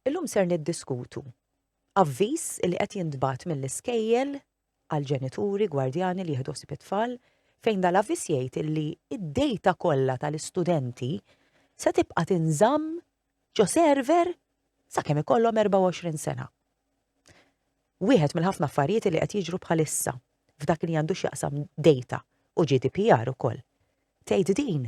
Illum ser niddiskutu avviż li qed jintbagħat mill-iskejjel għal ġenituri, gwardjani li jieħdu ħsieb it-tfal fejn dal-avviż jgħid li d-dejta kollha tal-istudenti se tibqa' tinżamm ġo server sakemm ikollhom 24 sena. Wieħed mill-ħafna affarijiet li qed jiġru bħalissa f'dak li għandu x'jaqsam dejta u GDPR ukoll. Tgħid din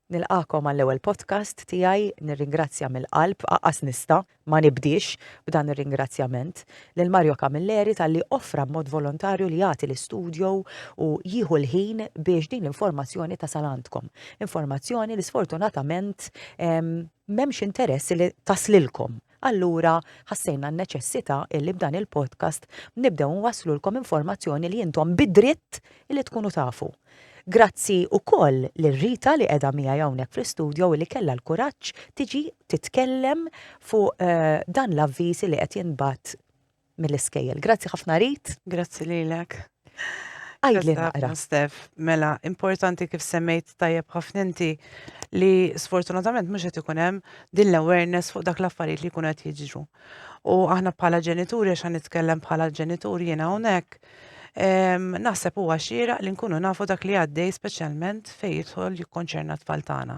Nilqagħkom għall-ewwel podcast tiegħi. Nirringrazzja mill-qalb, aqqas nista' ma nibdiex b'dan ir-ringrazzjament, lil Mario Camilleri talli offra b'mod volontarju li jagħti l-istudio u jieħu l-ħin biex din l-informazzjoni tasal għandkom. Informazzjoni li sfortunatament m'hemmx interess li taslilkom. Allura, ħassejna n-neċessità illi b'dan il-podcast nibdew nwasslulkom informazzjoni li intom bi dritt illi tkunu tafu. Grazzi ukoll lil Rita li qiegħda miegħi hawnhekk fl-istudio illi kellha l-kuraġġ tiġi titkellem fuq dan l-avviż illi qed jinbgħat mill-iskejjel. Grazzi ħafna Rit. Grazzi lilek. Għajdli naqra. Stef, mela, importanti kif semmejt tajjeb ħafna inti li sfortunatament mhux qed ikun hemm din l-awareness fuq dak l-affarijiet li jkunu qed jiġru. U aħna bħala ġenituri għax nitkellem bħala ġenituri jiena hawnhekk, naħseb huwa xieraq li nkunu nafu dak li għaddej speċjalment fejn jidħol jikkonċerna t-tfal tagħna.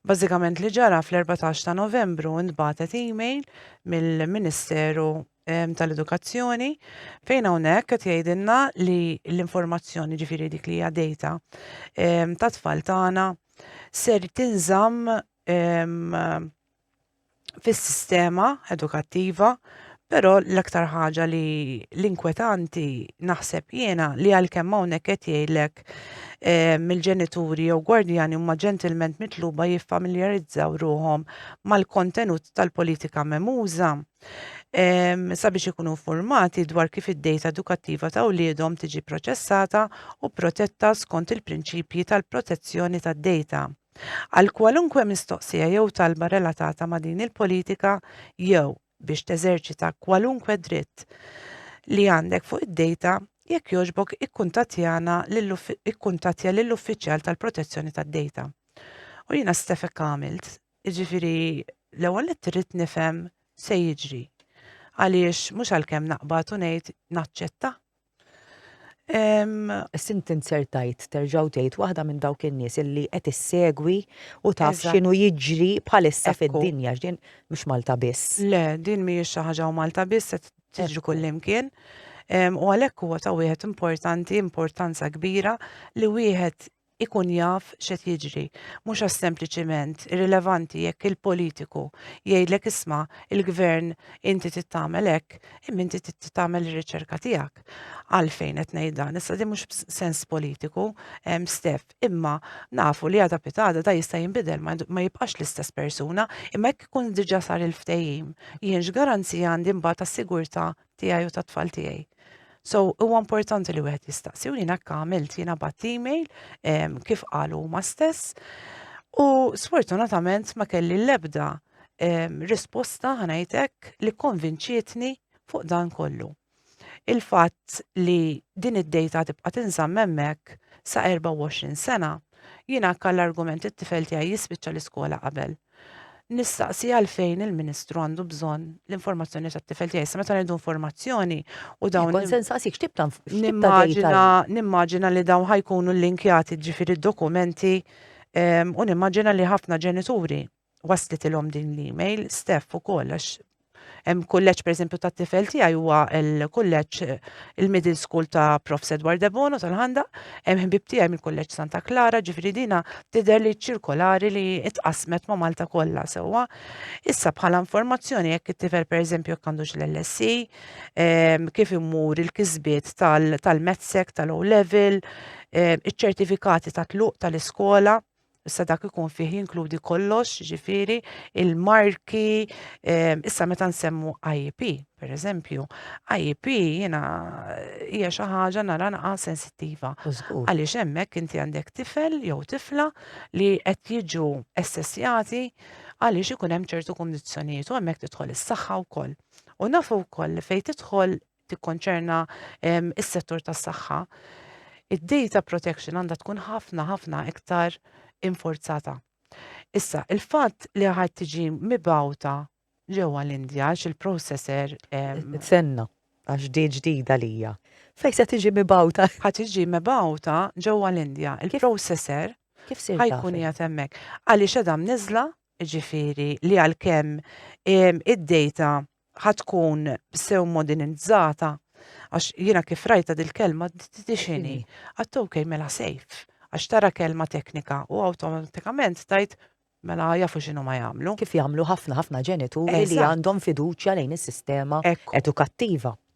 Bażikament li ġara fl-14 ta' Novembru ntbagħtet email mill-Ministeru ehm, tal-Edukazzjoni fejn hawnhekk qed jgħidilna li l-informazzjoni ġifieri dik li hija data ehm, tat-tfal tagħna ser tinżamm ehm, fis-sistema edukattiva, però l-aktar ħaġa li l-inkwetanti naħseb jiena li għalkemm hawnhekk qed jgħidlek eh, mill-ġenituri jew gwardjani huma ġentilment mitluba jiffamiljarizzaw ruhom mal-kontenut tal-politika memuża eh, sabiex ikunu informati dwar kif id-dejta edukattiva ta' wliedhom tiġi proċessata u protetta skont il-prinċipji tal-protezzjoni tad-dejta. Għal kwalunkwe mistoqsija jew talba relatata ma' din il-politika jew biex teżerċita kwalunkwe dritt li għandek fuq id-dejta, jekk jogħġbok ikkuntattjana lil ikkuntattja lill-uffiċjal tal-protezzjoni tad-dejta. U jiena stef hekk għamilt, jiġifieri l-ewwel nett irrid nifhem se jiġri. Għaliex mhux għalkemm naqbad u ngħid naċċetta Sint insertajt terġaw tgħid waħda minn dawk in-nies illi qed issegwi u taf x'inhu jiġri bħalissa fid-dinja x'din mhux Malta biss. Le, din mhijiex xi ħaġa u Malta biss qed tiġri kullimkien. U għalhekk huwa ta' wieħed importanti, importanza kbira li wieħed ikun jaf x'qed jiġri, mhux għax sempliċiment irrilevanti jekk il-politiku jgħidlek isma' il-Gvern inti trid tagħmel hekk, imma inti trid tagħmel ir-riċerka tiegħek. Għalfejn qed ngħid dan? Issa din mhux b'sens politiku, Steph, imma nafu li għada pitada da jista' jinbidel ma jibqax l-istess persuna, imma jekk ikun diġà sar il-ftehim, jien x'garanzija għandi mbagħad tas-sigurtà tiegħi u tat-tfal tiegħi. So, huwa importanti li wieħed jistaqsi u jiena għamilt jiena bat email kif qalu ma stess u sfortunatament ma kelli l-ebda risposta ħanajtek li konvinċietni fuq dan kollu. Il-fatt li din id-dejta tibqa' tinżamm hemmhekk sa 24 sena jiena kall argument it-tifel tiegħi jispiċċa l-iskola qabel. nistaqsi għalfejn il-Ministru għandu bżonn l-informazzjoni tat-tifel tiegħi. Sa meta ngħidu informazzjoni u dawn. Kont se nsaqsik x'tib ta' Nimmaġina li dawn ħajkunu l-linkjati ġifieri dokumenti ehm, u nimmaġina li ħafna ġenituri waslitilhom din l-email, Steph ukoll għax Hemm kulleġġ pereżempju tat-tifel tiegħi huwa l-kulleġġ il-middle school ta' Prof. Edward Debono tal-Ħandaq, hemm ħbib tiegħi mill-kulleġġ Santa Klara, ġifieri dina tidher li ċirkolari li tqassmet ma' Malta kollha sewwa. Issa bħala informazzjoni jekk it-tifel pereżempju jekk għandux l-LSE, ehm, kif imur il-kisbiet tal-medsek, tal-O level, ehm, iċ-ċertifikati ta' tluq tal-iskola, Issa dak ikun fih jinkludi kollox, ġifiri, il-marki, ehm, issa meta nsemmu IEP, per eżempju, IEP jena hija xi ħaġa nara naqa sensittiva. Għaliex hemmhekk inti għandek tifel jew tifla li qed jiġu essessjati għaliex ikun hemm ċertu kundizzjonijiet u hemmhekk tidħol is-saħħa wkoll. U nafu wkoll li fejn tidħol tikkonċerna s-settur tas-saħħa, id-data protection għandha tkun ħafna ħafna iktar infurzata. Issa, il-fatt li ħadd tiġi mibgħuta ġewwa l-Indja x'il-processor senna għax di ġdida lija. Fej se tiġi mibgħuta? Ħa tiġi mibgħuta ġewwa l-Indja. Il-processor kif se ħajkun jgħat hemmhekk. Għaliex edha mniżla, ġifieri li għalkemm id-data ħatkun sew modernizzata għax jiena kif rajta dil-kelma tixini. Għattu kej mela sejf, għax tara kelma teknika u automatikament tajt mela jafu xinu ma jagħmlu. Kif jagħmlu ħafna ħafna ġenituri li għandhom fiduċja lejn is-sistema edukattiva.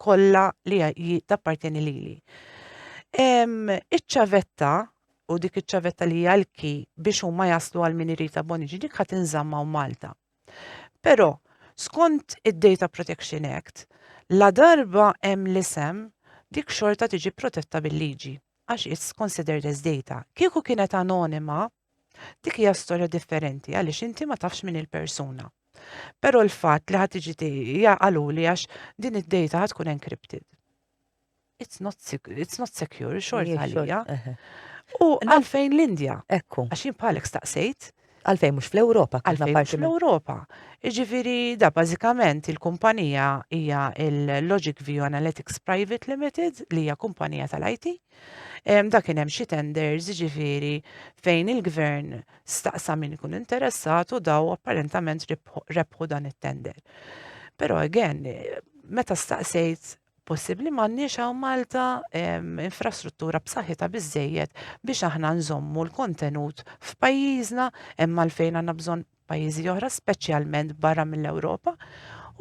kollha li hi tappartjeni lili. Em, Iċ-ċavetta u dik iċ-ċavetta li hija l-ki biex huma jaslu għal min irid aboniġi dik ħadd inżamma u Malta. Però skont id-Data Protection Act, la darba hemm l-isem dik xorta tiġi protetta bil-liġi għax it's considered as data. Kieku kienet anonima, Dik hija storja differenti għaliex inti ma tafx min il-persuna. Però l-fatt li ħadd tiġi hija qaluli għax din id-data ħad tkun encrypted. It's not, it's not secure, xort għalija. U għalfejn l-Indja? Ekku. Għax jien bħalek staqsejt. Għalfejn mhux fl-Ewropa, għalfejn mhux fl-Ewropa. Ġifieri da bażikament il-kumpanija hija il-Logic View Analytics Private Limited li hija kumpanija tal-IT Dak kien hemm xi tenders ġifieri fejn il-gvern staqsa min ikun interessat u daw apparentament rebħu dan it-tender. Però again, meta staqsejt possibbli m'għandniex hawn Malta infrastruttura b'saħħitha biżejjed biex aħna nżommu l-kontenut f'pajjiżna hemm għalfejn għandna bżonn pajjiżi oħra, speċjalment barra mill-Ewropa,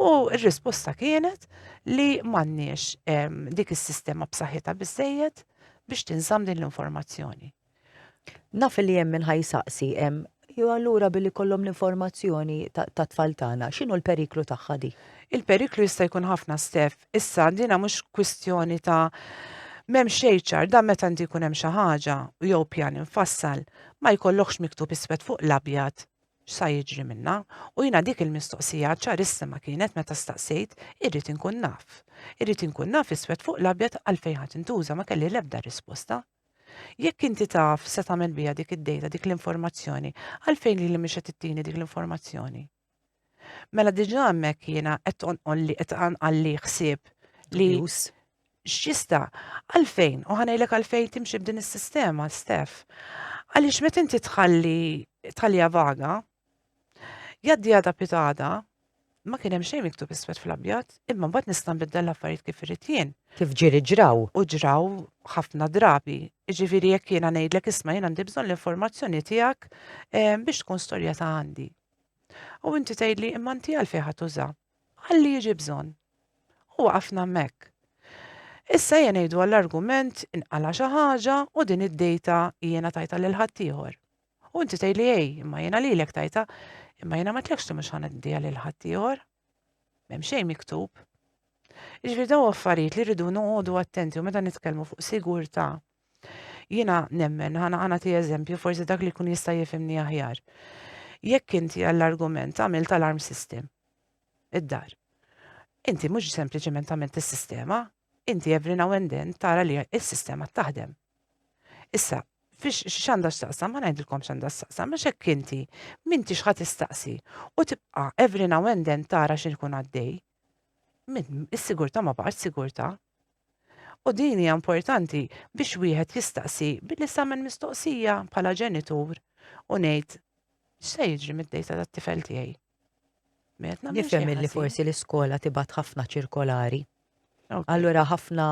u r-risposta kienet li m'għandniex ehm, dik is-sistema b'saħħitha biżejjed biex tinżamm din l-informazzjoni. Naf li hemm minn ħajsaqsi hemm jew allura billi kollhom l-informazzjoni ta' tfal tagħna, x'inhu l-periklu tagħha di? Il-periklu jista' jkun ħafna stef Issa, dina mhux kwistjoni ta' m'hemm xejn ċar, dan meta inti jkun hemm xi ħaġa u jew pjan imfassal, ma jkollokhx miktub iswed fuq l-abjad x'sa jiġri minnha, u jiena dik il-mistoqsija ċarissima kienet meta staqsejt, irrid inkun naf. Irrid inkun naf iswed fuq l-abjad għalfejn ħa tintuża, ma kelli l-ebda risposta. Jekk inti taf x'se tagħmel biha dik id-dejta, dik l-informazzjoni, għalfejn lili mhix qed ittini dik l-informazzjoni? Mela diġa hemmhekk jiena qed tonqol li qed għalli ħsieb li x'jista' għalfejn u ħanejlek għalfejn timxi b'din is-sistema stef. Għaliex meta inti tħalli tħallija vaga, jaddi għada pitada, ma kien hemm xejn miktub iswed fl-abjad, imma mbagħad nista' nbiddel l-affarijiet kif irid jien. Kif ġieri ġraw? U ġraw ħafna drabi. Ġifieri jekk jiena ngħidlek isma' jien għandi bżonn l-informazzjoni tiegħek eh, biex tkun storja ta' għandi. U inti tgħidli imma inti għalfejn ħadd uża? Għalli jiġi bżonn. U waqafna hemmhekk. Issa jien ngħidu għall-argument inqala xi ħaġa u din id-dejta jiena tajta lil ħaddieħor. U inti tgħidli ej, imma jiena lilek tajta, imma jiena ma tlekx li mhux ħaneddiha lil ħaddieħor. M'hemm xejn miktub. Iġri daw affarijiet li rridu noqogħdu attenti u meta nitkellmu fuq sigurtà Jiena nemmen, ħana ħana ti eżempju, forsi dak li jkun jista' jifimni aħjar. Jekk inti għall-argument għamilt alarm system, id-dar. Inti mhux sempliċement għamilt is-sistema, inti every now and then tara li s-sistema taħdem. Issa, fiex xanda xtaqsam, ma najdilkom xanda xtaqsam, ma xek inti, minti xħat istaqsi, u tibqa every now and then tara xin kun għaddej, minn is-sigurta ma baqax sigurta, U din hija importanti biex wieħed jistaqsi billi samen mistoqsija bħala ġenitur u ngħid x'se jiġri mid-dejta tat-tifel tiegħi. Nifhem li forsi l-iskola tibgħat ħafna ċirkolari Allura ħafna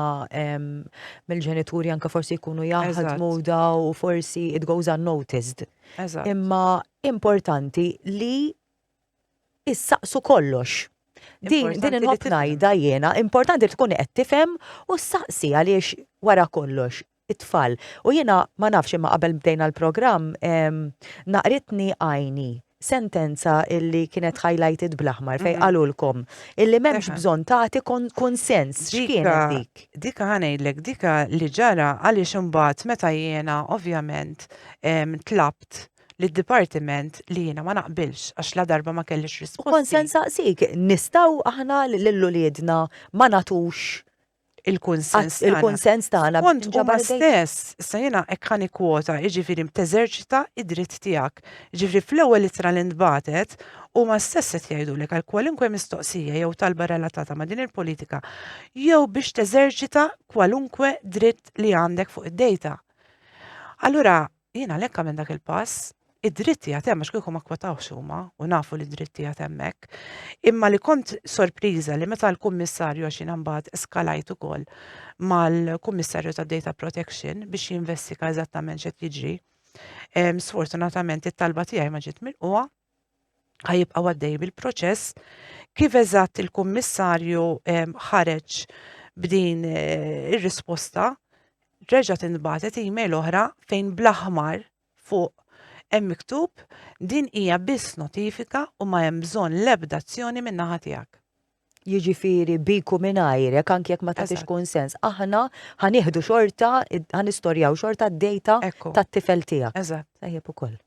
mill-ġenituri anka forsi jkunu jaħdmu daw u forsi it goes unnoticed. Imma importanti li issaqsu kollox. Din din inħobb ngħidha jiena, importanti tkun qed tifhem u ssaqsi għaliex wara kollox it-tfal. U jiena ma nafx imma qabel bdejna l-programm naqritni għajni sentenza illi kienet highlighted bl-aħmar fejn qalulkom illi m'hemmx bżonn tagħti kunsens. X'kienet dik? Dika ħa ngħidlek, dika li ġara għaliex imbagħad meta jiena ovvjament tlabt li d-dipartiment li jiena ma naqbilx għax ladarba ma kellix risposti. U kont se nsaqsik, nistgħu aħna lil uliedna ma nagħtux il-kunsens tagħna. Il-kunsens tagħna. Kont ġabha stess, issa jiena hekk ħa nikkwota, jiġifieri teżerċita id-dritt tiegħek. Jiġifieri fl-ewwel ittra li ntbagħtet huma stess qed jgħidulek għal kwalunkwe mistoqsija jew talba relatata ma' din il-politika jew biex teżerċita kwalunkwe dritt li għandek fuq id-dejta. Allura, Jien għalhekk għamilt dak il-pass, id-dritt tiegħi hemm għax kieku ma kwotawx huma u nafu li d-dritt tiegħi hemmhekk. Imma li kont sorpriża li meta l-kummissarju għax jiena mbagħad eskalajt ukoll mal-kummissarju tad-data protection biex jinvestiga eżattament x'qed jiġri. Sfortunatament it-talba tiegħi ma ġiet milquha ħajibqgħu għaddej bil-proċess kif eżatt il-Kummissarju ehm, ħareġ b'din eh, ir-risposta reġa' tinbagħtet email oħra fejn bl-aħmar fuq hemm miktub din hija biss notifika u ma hemm bżonn l-ebda azzjoni min-naħa tiegħek. Jiġifieri biku mingħajrek anke jekk ma tagħtix kunsens. Aħna ħanieħdu xorta, ħanistorjaw xorta d-dejta tat-tifel tiegħek. Eżatt. Tajjeb ukoll.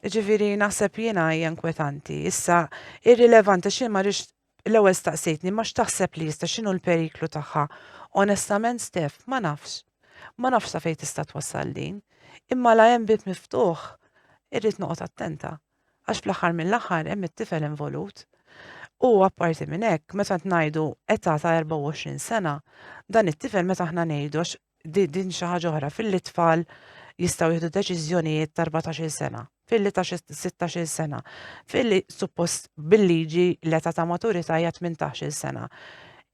Ġifiri, naħseb jiena hija inkwetanti. Issa, irrilevanti xi ma rix l-ewwel staqsejtni ma x'taħseb li jista' x'inhu l-periklu tagħha. Onestament Stef, ma nafx. Ma nafx sa fejn tista' twassal din. Imma la hemm bib miftuħ, irrid noqgħod attenta. Għax fl-aħħar mill-aħħar hemm it-tifel involut. U apparti minn hekk, meta ngħidu età ta' 24 sena, dan it-tifel meta aħna ngħidu għax di din xi ħaġa oħra filli tfal jistgħu jieħdu deċiżjonijiet ta' 14-il sena, filli ta' 16-il sena, filli suppost bil-liġi l-età ta' maturità hija 18-il sena.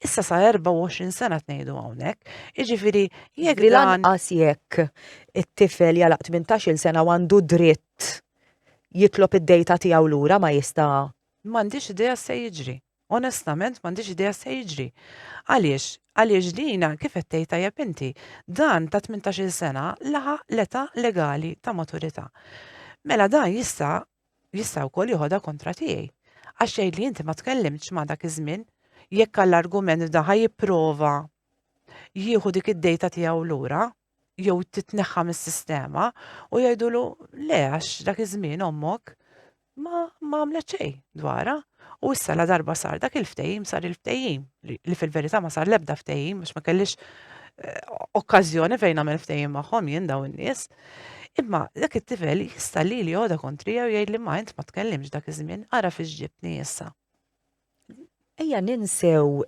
Issa sa 24 sena tnejdu hawnhekk, jiġifieri jekk Li dan lanqas jekk it-tifel jalaq 18-il sena u għandu dritt jitlob id-dejta tiegħu lura ma jista' m'għandix idea se jiġri. Onestament m'għandix idea x'se jiġri. Għaliex? Għaliex dina, kif qed tgħid tajjeb inti, dan ta' tmintax-il sena laħaq l-età legali ta' maturità. Mela dan jista' jista' wkoll joħodha kontra tiegħi. Għax jgħidli inti ma tkellimtx ma' dak iż-żmien. Jekk għall-argument f'dan ħa jipprova jieħu dik id-dejta tiegħu lura, jew titneħħa mis-sistema u jgħidulu le għax dak iż-żmien ommok ma ma għamlet xejn dwarha. U issa la darba sar dak il-ftehim sar il-ftehim li fil-verità ma sar l-ebda ftehim biex ma kellix eh, okkażjoni fejn għamel ftehim magħhom jien daw in-nies. Imma dak it-tifel jista' li li joda kontrija u jgħid li ma int ma tkellimx dak iż-żmien ara fiex ġibtni issa. Ejja ninsew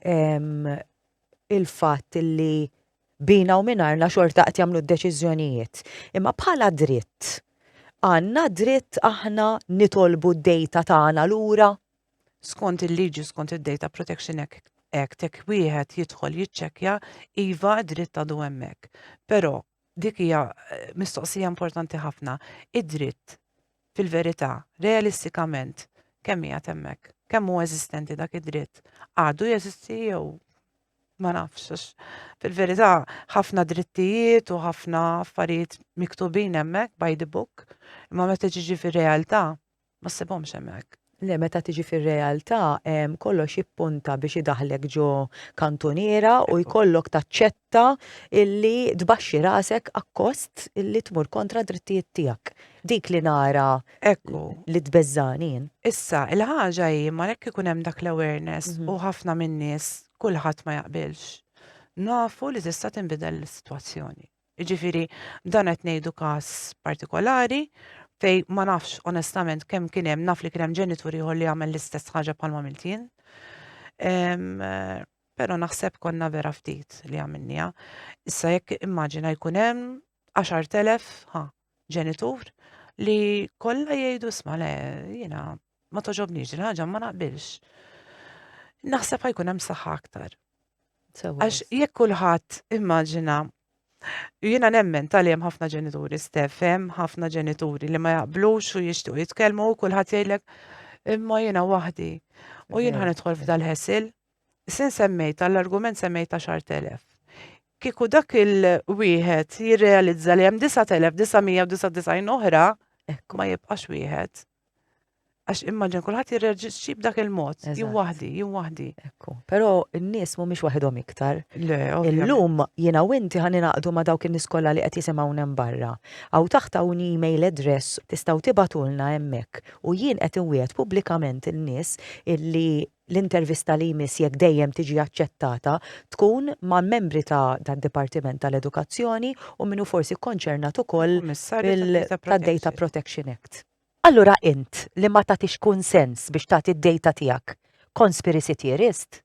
il-fatt li bina u minarna xorta qed jagħmlu d-deċiżjonijiet. Imma bħala dritt, għandna dritt aħna nitolbu d-dejta tagħna lura? Skont il-liġi, skont id-Data Protection Act, hekk wieħed jidħol jiċċekkja iva dritt għadu hemmhekk. Però Dik hija mistoqsija importanti ħafna. Id-dritt, fil-verità, realistikament, kemm qiegħed hemmhekk? Kemm hu eżistenti dak id-dritt? Għadu jeżisti jew ma nafx. Fil-verità, ħafna drittijiet u ħafna affarijiet miktubin hemmhekk by the book, imma meta ġiġi fir-realtà, Ma ssibhomx hemmhekk. Le meta tiġi fir-realtà kollox jippunta biex idaħlek ġo kantuniera u jkollok taċċetta illi tbaxxi rasek akkost illi tmur kontra drittijiet tiegħek. Dik li nara ekku li tbeżżani. Issa, il-ħaġa hi ma jekk ikun hemm dak l-awareness mhm. u ħafna min-nies kulħadd ma jaqbilx. Nafu li tista' tinbidel is-sitwazzjoni. Jiġifieri dan qed ngħidu każ partikolari fejn ma nafx onestament kemm kien hemm naf li kien hemm ġenitur ieħor li għamel l-istess ħaġa bħalma għamilt jien. Però naħseb konna vera ftit li għamilniha. Issa jekk immaġina jkun hemm 10,000 ħa ġenitur li kollha jgħidu sma le jiena ma toġobniex din ħaġa ma naqbilx. Naħseb ħajkun hemm saħħa aktar. Għax jekk kulħadd immaġina Jiena nemmen tal hemm ħafna ġenituri stef, hemm ħafna ġenituri li ma jaqblux u jixtiequ jitkellmu u kulħadd jgħidlek imma jiena waħdi u jien ħan idħol f'dal-ħesil Sin semmejta, l-argument semmejta xar telef. Kiku dak il-wieħed jirrealizza li hemm 9999 oħra, ekk ma jibqax wieħed. Għax immaġin kulħadd jirreġiċi b'dak il-mod, jien waħdi, jien waħdi. Ekku. Però n-nies mhumiex waħedhom iktar. Le, Illum jiena u inti ħan inaqdu ma' dawk in-nies kollha li qed jisimgħu hemm barra. Aw taħt hawn email address tistgħu tibatulna hemmhekk u jien qed inwiegħed pubblikament in-nies illi L-intervista li jmiss, jekk dejjem tiġi aċċettata, tkun ma' membri ta' d-Dipartiment ta' l-Edukazzjoni u min hu forsi kkonċernat ukoll tad-Data Protection Act. Allura int li ma tagħtix kunsens biex tagħti d-data tiegħek, conspiracy theorist?